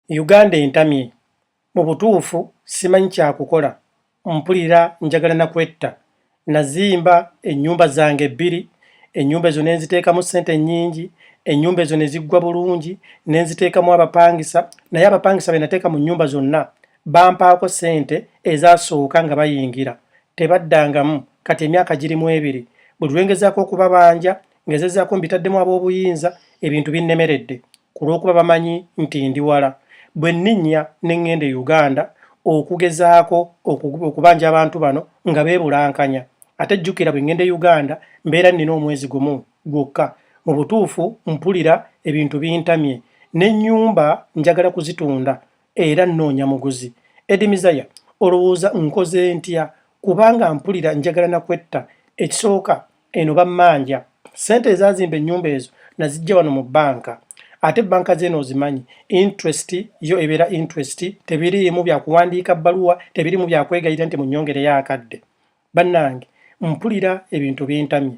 Uganda entamye. Mu butuufu simanyi kya kukola. Mpulira njagala na kwetta. Nazimba ennyumba zange bbiri, ennyumba ezo ne nziteekamu ssente nnyingi, ennyumba ezo ne ziggwa bulungi, ne nziteekamu abapangisa, naye abapangisa be nateeka mu nnyumba zonna bampaako ssente ezaasooka nga bayingira. Tebaddangamu. Kati emyaka giri mu ebiri. Buli lwe ngezaako okubabanja, ngezezzaako mbitaddemu aboobuyinza, ebintu binnemeredde. ku lw'okuba bamanyi nti ndi wala bwe nninnya ne ŋŋenda e Uganda okugezaako okubanja abantu bano nga beebulankanya ate jjukira bwe ŋŋenda e Uganda mbeera nnina omwezi gumu gwokka mu butuufu mpulira ebintu bintamye n'ennyumba njagala kuzitunda era nnoonya muguzi Eddie Mizaya olowooza nkoze ntya kubanga mpulira njagala na kwetta ekisooka eno bammanja sente ezazimba ennyumba ezo nazijja wano mu bbanka ate banka zeeno ozimanyi interest yo ebeera interest tebiriimu byakuwandiika bbaluwa tebirimu byakwegayira nti munyongereyo akadde bannange mpulira ebintu bintamye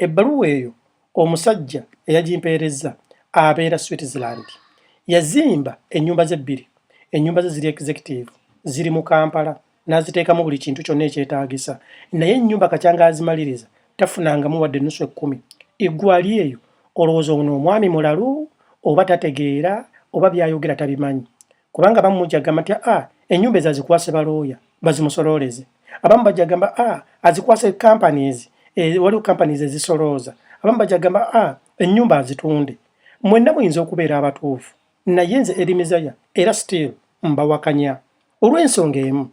ebbaluwa eyo omusajja eyagimpeerezza abeera switzerland yazimba ennyumba ze bbiri ennyumba ze ziri executive ziri mu kampala n'aziteekamu buli kintu kyonna ekyetaagisa naye ennyumba kakyanga azimaliriza tafunangamu wadde ennusu ekkumi eggwali eyo olowooza ono omwami mulalu oba tategeera oba byayogera tabimanyi kubanga abamu mujagamba nti a ah, ennyumba ezo azikwase balooya bazimusolooleze abamu bajagamba a ah, azikwase companies eh, waliwo companies ezisolooza abamu bajagamba a ah, ennyumba azitunde mwenna muyinza okubeera abatuufu naye nze erimizaya era still mbawakanya olw'ensonga emu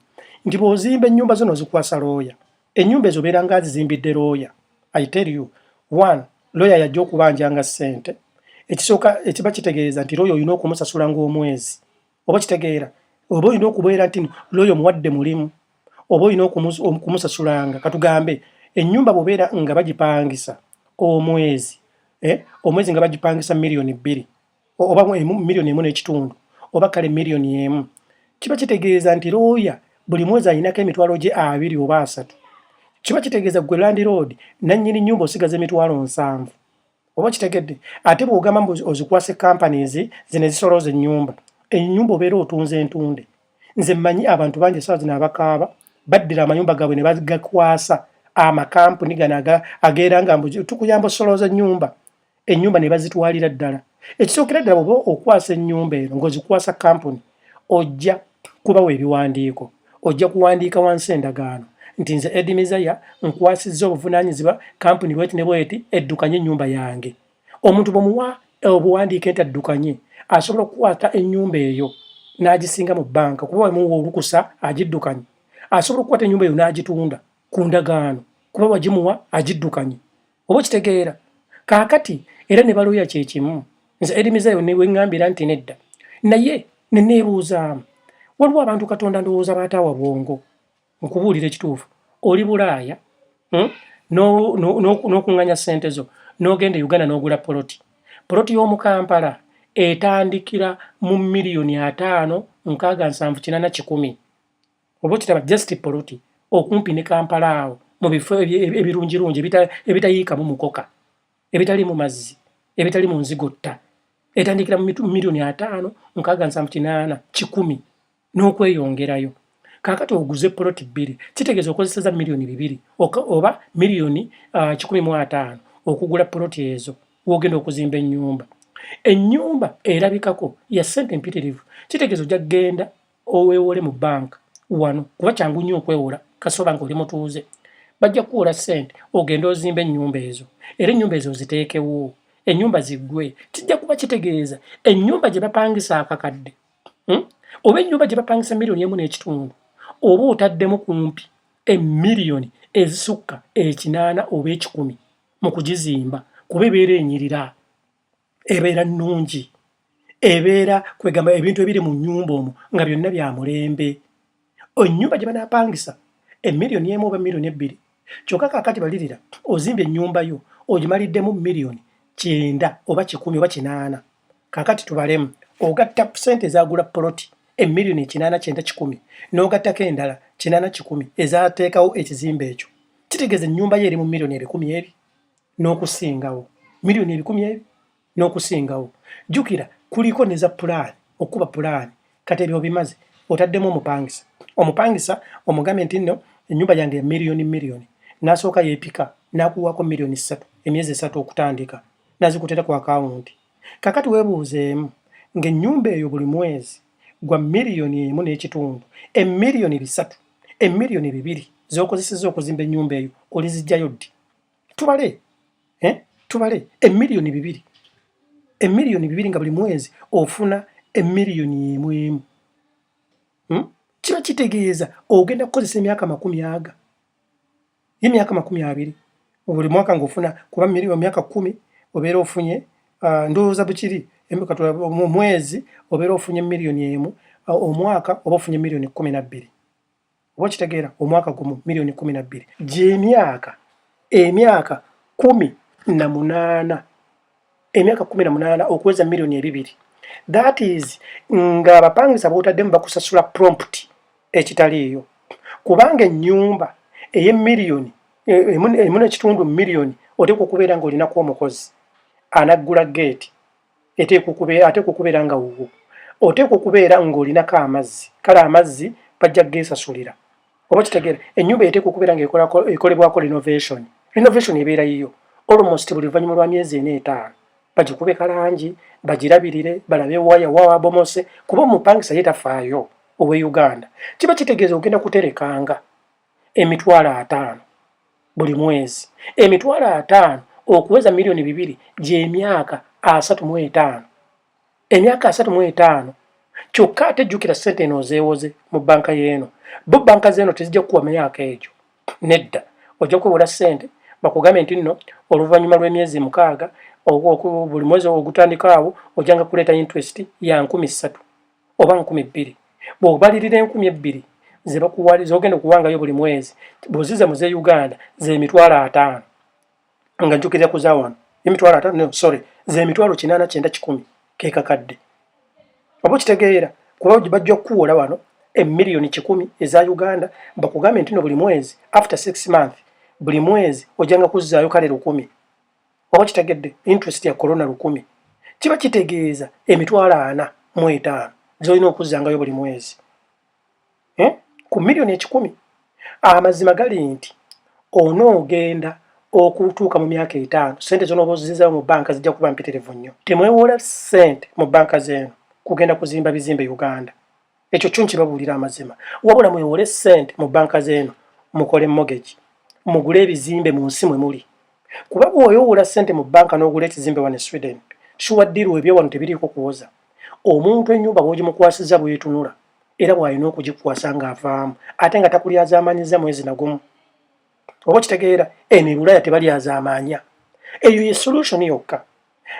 nti bw'ozimba ennyumba zo nozikwasa looya ennyumba ezo obeera nga azizimbidde looya i tell you one looya yajja okubanjanga ssente ekisooka ekiba kitegeeza nti looya olina okumusasula ng'omwezi oba kitegeera oba olina okubeera nti looya omuwadde mulimu oba olina okumusasulanga katugambe ennyumba bwobeera nga bagipangisa omwezi eh, omwezi nga bagipangisa miliyoni bbiri oba miliyoni emu n'ekitundu oba kale miliyoni emu kiba kitegeeza nti looya buli mwezi alinako emitwalo gye abiri oba asatu kiba kitegeeza gwe landiroodi nannyini nnyumba osigaza emitwalo nsanvu oba kitegedde ate bw'ogamba mbu ozikwase companies zino ezisolooza ennyumba ennyumba obeera otunze entunde nze mmanyi abantu bangi esawa zino abakaaba baddira amayumba gaabwe ne bagakwasa amakampuni gano ageera nga mbu tukuyamba osolooza ennyumba ennyumba ne bazitwalira ddala ekisookera ddala bwoba okwasa ennyumba eno ng'ozikwasa kampuni ojja kubawa ebiwandiiko ojja kuwandiika wansi endagaano nti nze edi mizaya nkwasizza obuvunaanyizibwa kampuni bweti ne bweti eddukanye ennyumba yange omuntu bwemuwa obuwandiike nti addukanye asobola okukwata ennyumba eyo n'agisinga mu bbanka kuba wamuwa olukusa agiddukanye asobola okukwata ennyumba eyo n'agitunda ku ndagaano kuba wagimuwa agiddukanye oba okitegeera kaakati era ne balooya kye kimu nze erimizayo ne wengambira nti nedda naye ne neebuuzaamu waliwo abantu katonda ndowooza baataawa bwongo nkubuulira ekituufu oli bulaaya hmm? n'okuŋŋanya ssente zo n'ogenda e uganda n'ogula poloti poloti y'omu kampala etandikira mu miliyoni ataano nkaaga nsanvu kinana kikumi oba okiraba just poloti okumpi ne kampala awo mu bifo ebirungirungi ebitayiikamu mukoka ebitali mu mazzi ebitali mu nzigotta etandikira mu miliyoni ataano nkaaga nsanvu kinaana kikumi n'okweyongerayo kakati oguze poloti bbiri kitegeeza okozeseza miliyoni bibiri oba miliyoni ah, kikumi mu ataano okugula poloti ezo wogenda okuzimba ennyumba ennyumba erabikako ya sente empitirivu kitegeeza ojja kugenda oweewole mu banka wano kuba kyangu nnyo okwewola kasoba nga oli mutuuze bajja kukuwola ssente ogende ozimba ennyumba ezo era ennyumba ezo oziteekewo ennyumba ziggwe kijja kuba kitegeeza ennyumba gye bapangisa akakadde hmm? oba ennyumba gye bapangisa miliyoni emu n'ekitundu oba otaddemu kumpi emiliyoni ezisukka ekinaana oba ekikumi mu kugizimba kuba ebeera enyirira ebeera nnungi ebeera kwegamba ebintu ebiri mu nnyumba omwo nga byonna bya mulembe ennyumba gye banaapangisa emiliyoni emu oba miliyoni ebbiri kyokka kaakati balirira ozimbye ennyumba yo ogimaliddemu miliyoni kyenda oba kikumi oba kinaana kaakati tubalemu ogatta ssente ezagula poloti emiliyoni ekinaana kyenda kikumi n'ogattako endala kinaana kikumi ezateekawo ekizimba ekyo kitegeeza ennyumba yo eri mu miliyoni ebikumi ebi n'okusingawo miliyoni ebikumi ebyo n'okusingawo jjukira kuliko ne za pulaani okukuba pulaani kati ebyo obimaze otaddemu omupangisa omupangisa omugambe nti nno ennyumba yange ya miliyoni miliyoni n'asooka yeepika n'akuwaako miliyoni ssatu emyezi esatu okutandika n'azikutera ku akawunti kakati weebuuzeemu ng'ennyumba eyo buli mwezi gwa miliyoni emu n'ekitundu emiliyoni bisatu emiliyoni bibiri z'okozesezza okuzimba ennyumba eyo olizijjayo ddi tubale eh? tubale emiliyoni bibiri emiliyoni bibiri nga buli mwezi ofuna emiliyoni emu emu hmm? kiba kitegeeza ogenda kukozesa emyaka makumi aga ye myaka makumi abiri buli mwaka ngaofuna kuba miliyoni myaka kumi obeera ofunye uh, ndowooza bukiri mu mwezi obeera ofunye miliyoni emu uh, omwaka oba ofunye miliyoni kumi nabbiri oba kitegeera omwaka gumu miliyoni kumi na bbiri gyemyaka emyaka kumi na munaana emyaka kumi na munaana okuweza miliyoni ebibiri that is nga abapangisa bwotaddemu bakusasula prompt ekitaliiyo kubanga ennyumba eyemiliyoni emu nekitundu miliyoni oteekwa okubeera nga olinaku omukozi anaggula geeti eteekwa okubeera ateekwa okubeera nga wuwo oteekwa okubeera ng'olinako amazzi kale amazzi bajja geesasulira oba kitegeera ennyumba eteekwa okubeera nga ekolebwako renovation renovation ebeera yiyo almost buli luvannyuma lwa myezi ena etaano bagikube kalangi bagirabirire balabe waya wawabomose kuba omupangisa ye tafaayo owe uganda kiba kitegeeza ogenda kuterekanga emitwalo ataano buli mwezi emitwalo ataano okuweza miliyoni bibiri gy'emyaka asatu mu etaano emyaka asatu mu etaano kyokka ate jjukira ssente eno ozeewoze mu bbanka y'eno bo bbanka z'eno tezijja kukuwa myaka egyo nedda ojja kwewola ssente bakugambe nti nno oluvannyuma lw'emyezi mukaaga buli mwezi ogutandikaawo ojjanga kuleeta interest ya nkumi ssatu oba nkumi bbiri bwobalirira enkumi ebbiri zebakuwali zogenda okuwangayo buli mwezi bwoziza mu zeuganda zemitwalo ataano nga njukirira kuzawano emitwalo ataano no, sorry zemitwalo kinaana kyenda kikumi kekakadde oba okitegeera kuba bajja kukuwola wano emiliyoni kikumi eza uganda bakugambe ntino buli mwezi after six month buli mwezi ojanga kuzzaayo kale lukumi oba kitegedde interest ya corona lukumi kiba kitegeeza emitwalo ana mu etaano zolina okuzzangayo buli mwezi eh? ku miliyoni ekikumi amazima gali nti onoogenda okutuuka mu myaka etaano sente zonooba ozizayo mu banka zijja kuba mpiterevu nnyo temwewola sente mu banka zeeno kugenda kuzimba bizimbe uganda ekyo kyo nkibabuulira amazima wabula mwewole sente mu banka zeeno mukole mogegi mugule ebizimbe mu nsi mwe muli kuba bwoyowoola sente mu banka n'ogula ekizimbe wano e sweden shuwa ddiiru ebyo wano tebiriiko kuwoza omuntu ennyumba bwogimukwasiza bwetunula era bwalina okugikwasa ng'avaamu ate nga takulyazaamaanyiza mwezi nagumu oba okitegeera eno ebulaya tebalyazaamaanya eyo ye solution yokka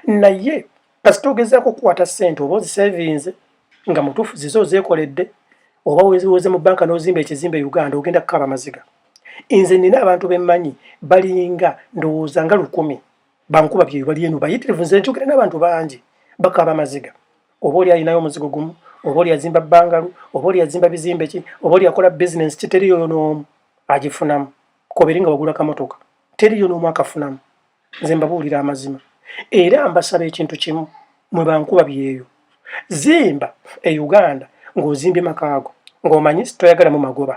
naye kasita ogezaako okukwata ssente oba ozisevinze nga mutuufu zize ozeekoledde oba weziwoze mu banka n'ozimba ekizimba e uganda ogenda kukaaba amaziga nze nina abantu bemmanyi balinga ndowooza nga lukumi bankuba byeyo bali eno bayitirivu nze nkyogera n'abantu bangi bakaaba amaziga oba oli alinayo omuzigo gumu oba oli azimba bangalu oba oli azimba bizimbe ki oba oli akola bizinensi kiteriyoyo n'omu agifunamu kobere nga wagula kamotoka teriyo n'omu akafunamu nze mbabuulira amazima era mbasaba ekintu kimu mwe bankuba byeyo zimba e uganda ng'ozimbye makaago ng'omanyi toyagalamu magoba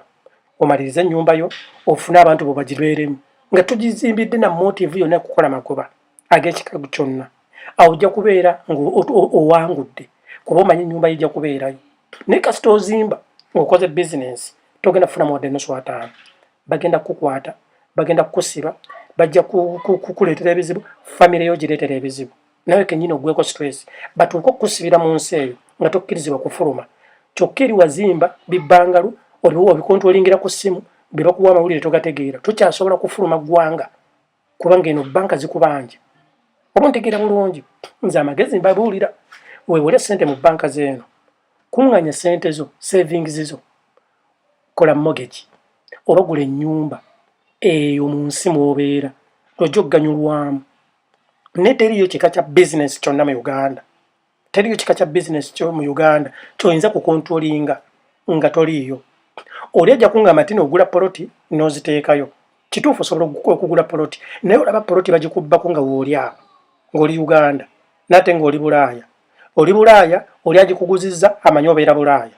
omalirize ennyumba yo ofune abantu bo bagibeeremu nga tugizimbidde na motivu yonna kukola magoba ag'ekikagu kyonna awo ojja kubeera ng'owangudde kuba omanyi ennyumba yijja kubeerayo naye kasita ozimba ng'okoze bizinensi togenda kufunamu wadde ennusu ataano bagenda kukukwata bagenda kukusiba bajja kukuleetera ebizibu famire yo gireetera ebizibu nawe kenyini ogweko stress batuuka okukusibira mu nsi eyo nga tokkirizibwa kufuluma kyokka eri wazimba bibbangalu oliwo obikontwolingira ku ssimu bye bakuwa amawulire togategeera tokyasobola kufuluma ggwanga kubanga eno banka zikubanja oba ontegeera bulungi nze amagezi mbabuulira wewole sente mu banka zeeno kuŋŋanya sente zo savings zo kola mogegi oba gula ennyumba eyo mu nsi mwobeera lwojja okuganyulwamu naye teriyo kika kya bizinesi kyonna mu uganda teliyo kika kya business kyo mu Uganda kyoyinza ku controllinga nga toliyo oli ajja kungamba nti nogula poloti noziteekayo kituufu osobola okugula poloti naye olaba poloti bagikubbako nga wooli awo ng'oli uganda naate ng'oli bulaaya oli bulaaya oli agikuguziza amanyi obeera bulaaya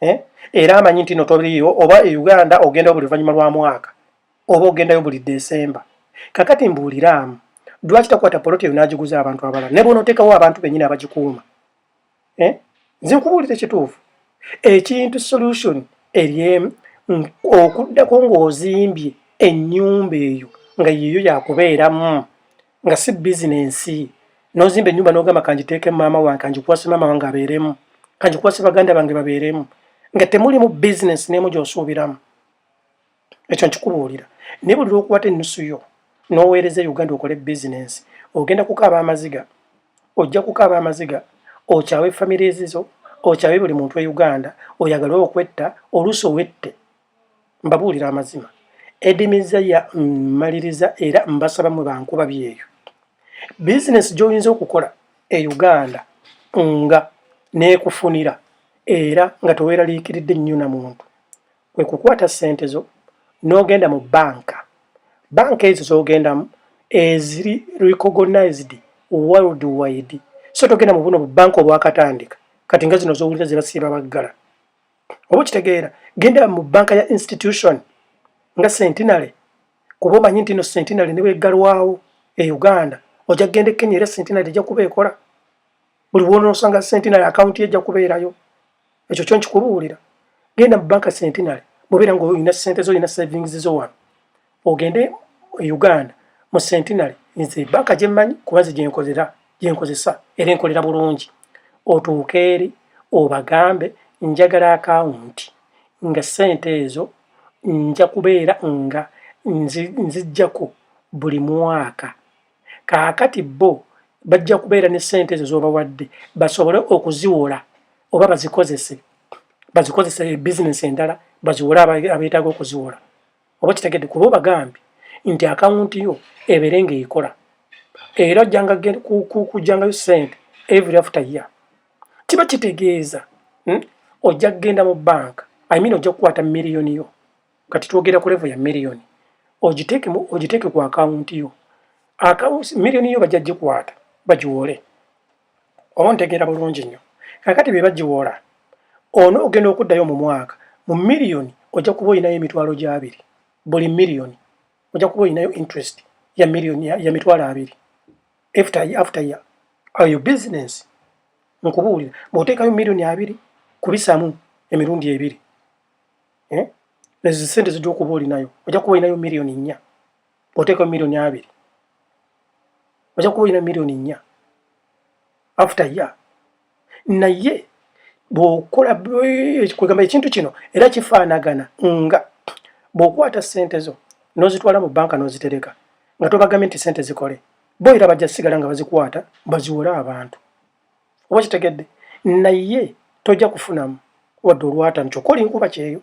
eh? era amanyi nti notoliyo oba e uganda ogenda buli luvannyuma lwa mwaka oba ogendayo buli December. Kakati mbuuliraamu, lwaki takwata poloti eyo n'agiguza abantu abalala ne bw'onoteekawo abantu bennyini abagikuuma? Eh? Nze nkubuulira ekituufu, ekintu solution eri emu, okuddako ng'ozimbye ennyumba eyo nga yeeyo yakubeeramu nga si bizinensi n'ozimba ennyumba n'ogamba kangiteeke maama wange kangikuwase maama wange abeeremu kangikuwase baganda bange babeeremu nga temulimu bizinensi n'emu gy'osuubiramu ekyo nkikubuulira naye buli lwokuwata ennusu yo n'oweereza e uganda okole bizinensi ogenda kukaaba amaziga ojja kukaaba amaziga okyawe famire ezizo okyawe buli muntu e uganda oyagale okwetta oluusi owette mbabuulira amazima edimiza ya mmaliriza era mbasaba mwe bankuba byeyo bizinensi gy'oyinza okukola e uganda nga n'ekufunira era nga teweeraliikiridde nnyo na muntu kwe kukwata ssente zo n'ogenda mu banka banka ezo z'ogendamu eziri recognized world wide so togenda mu buno bubanka obwakatandika kati nga zino zowulira zebasiiba baggala oba okitegeera genda mu banka ya institution nga centenary kuba omanyi nti no centenary nebweggalwawo e uganda ojja kugenda ekenya era centenary ejja kuba ekola buli bwonosanga centenary akawunti ejja kubeerayo ekyo kyo nkikubuulira genda mu banka centenary bwobeera nga olina sente zo olina savings zo wano ogende e uganda mu centenary nze banka gyemmanyi kuba nze gyenkozera gyenkozesa era enkolera bulungi otuuke eri obagambe njagala akawunti nga sente ezo nja kubeera nga nzijjako buli mwaka kaakati bo bajja kubeera ne ssente ezo z'obawadde basobole okuziwola oba bazikozese bazikozese bizinesi endala baziwole abeetaaga okuziwola oba kitegedde kuba obagambye nti akawunti yo ebeere ng'ekola era ojjangakujjangayo ssente every after year kiba kitegeeza hmm? ojja kugenda mu banka imini ojja kukwata miliyoni yo kati twogera ku levo ya miliyoni ogiteeke ku akawunti yo miliyoni yo bajja gikwata bagiwoole oba ntegeera bulungi nnyo kakati bye bagiwoola ono ogenda okuddayo mu mwaka mu miliyoni ojja kuba olinayo emitwalo gyabiri buli miliyoni ojja kuba olinayo interest ya miliyoni ya mitwalo abiri after year after year ayo business nkubuulira bw'oteekayo miliyoni abiri kubisaamu emirundi ebiri eh? ezo sente zijja okuba olinayo ojja kuba olinayo miliyoni nnya oteeka miliyoni abiri ojja kuba olina miliyoni nnya after ya naye bwokola kwegamba ekintu kino era kifaanagana nga bwokwata sente zo nozitwala mu banka nozitereka nga tobagambye nti sente zikole bo era bajja sigala nga bazikwata baziwole abantu oba kitegedde naye tojja kufunamu wadde olwatano kyokka oli nkuba kyeyo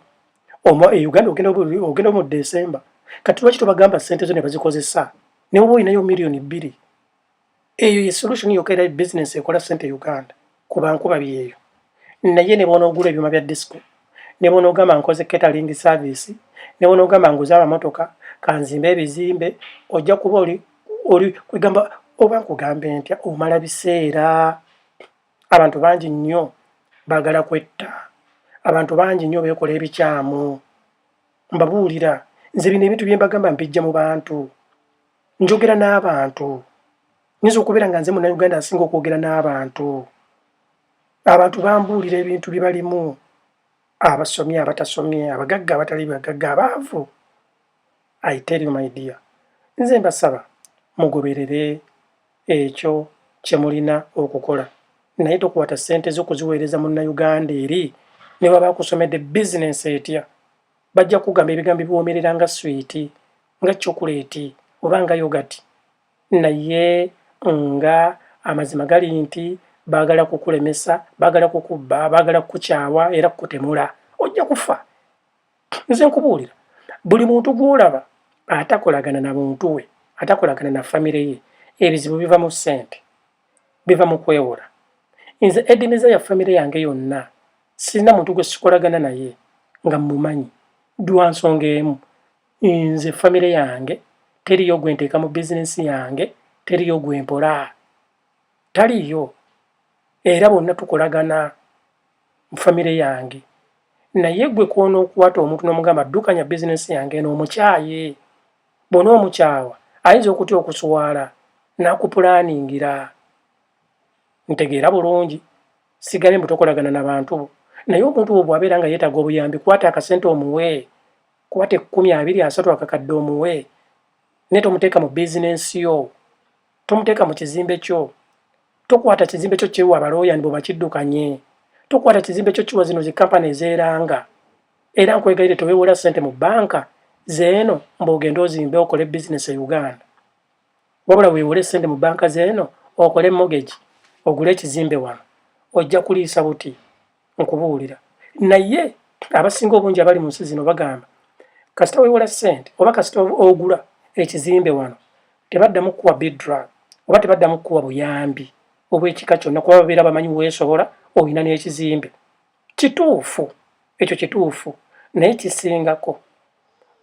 oma e uganda ogenda ogenda mu desemba kati lwaki tobagamba sente zo ne bazikozesa ne woba olinayo miliyoni bbiri eyo ye solution yokka era business ekola sente e uganda kuba nkuba byeyo naye ne bwonoogula ebyuma bya disco ne bwonoogamba nkoze catering service ne bwonoogamba nguza amamotoka kanzimba ebizimbe ojja kuba oli oli kwegamba oba nkugambe ntya omala biseera abantu bangi nnyo baagala kwetta abantu bangi nnyo beekola ebikyamu mbabuulira nze bino ebintu byembagamba mpijja mu bantu njogera n'abantu nyinza okubeera nga nze munauganda asinga okwogera n'abantu abantu bambuulira ebintu bye balimu abasomye abatasomye abagagga abatali bagagga abaavu I tell you my dear, nze mbasaba mugoberere ekyo kyemulina okukola naye tokwata ssente zo kuziweereza munnayuganda eri ne baba akusomedde bizinensi etya bajja kugamba ebigambo biwoomerera nga swiiti nga cokuleeti oba nga yogati naye nga amazima gali nti baagala kukulemesa baagala kukubba baagala kukukyawa era kukutemula ojja kufa nze nkubuulira buli muntu gwolaba atakolagana na muntu we atakolagana na famire ye ebizibu biva mu ssente biva mu kwewola nze edimiza ya famire yange yonna sirina muntu gwe sikolagana naye nga mumanyi dwa nsonga emu nze famire yange teriyo gwe nteeka mu bizinensi yange teriyo gwe mpola taliyo era bonna tukolagana mu family yange naye gwe kwonokwata omuntu nomugamba ddukanya bizinesi yange eno omukyaye bona omukyawa ayinza okutya okuswala nakupulaningira ntegeera bulungi sigambye mbutokolagana nabantu bo naye omuntu wo bwabeera nga yetaaga obuyambi kwata akasente omuwe kwata ekkumi abiri asatu akakadde omuwe naye tomuteeka mu bizinesi yo tomuteeka mu kizimbe kyo tokwata kizimbe kyo kiwa balooya nibo bakiddukanye tokwata kizimbe kyo kiwa zino zikampani ezeeranga era nkwegayire teweewola ssente mu bbanka zeeno mbaogende ozimbe okole bizinesi e uganda wabula weewole ssente mu bbanka zeeno okole mogegi ogule ekizimbe wano ojja kuliisa buti nkubuulira naye abasinga obungi abali mu nsi zino bagamba kasita wewola ssente oba kasita ogula ekizimbe wano tebaddamu kukuwa bidrug oba tebaddamu kukuwa buyambi obwekika kyonna kuba babeera bamanyi weesobola olina n'ekizimbe kituufu ekyo kituufu naye kisingako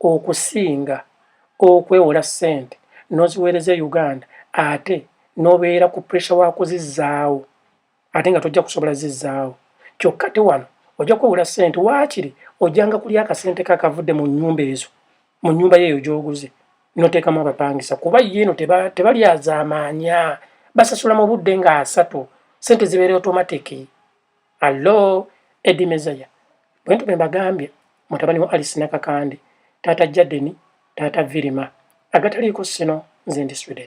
okusinga okwewola ssente n'oziweereza e uganda ate n'obeera ku pressure wa kuzizzaawo ate nga tojja kusobola zizzaawo kyokka te wano ojja kwewula ssente waakiri ojjanga kulya akasente ka kavudde mu nnyumba ezo mu nnyumba yeeyo gy'oguze noteekamu abapangisa kuba ye eno tebalyazaamaanya basasula mu budde nga asatu ssente zibeera otomatiki allo edi mezaya bwe ntume mbagambye mutabani wa alisi nakakande taata jadeni taata virima agataliiko sino nze ndi sweden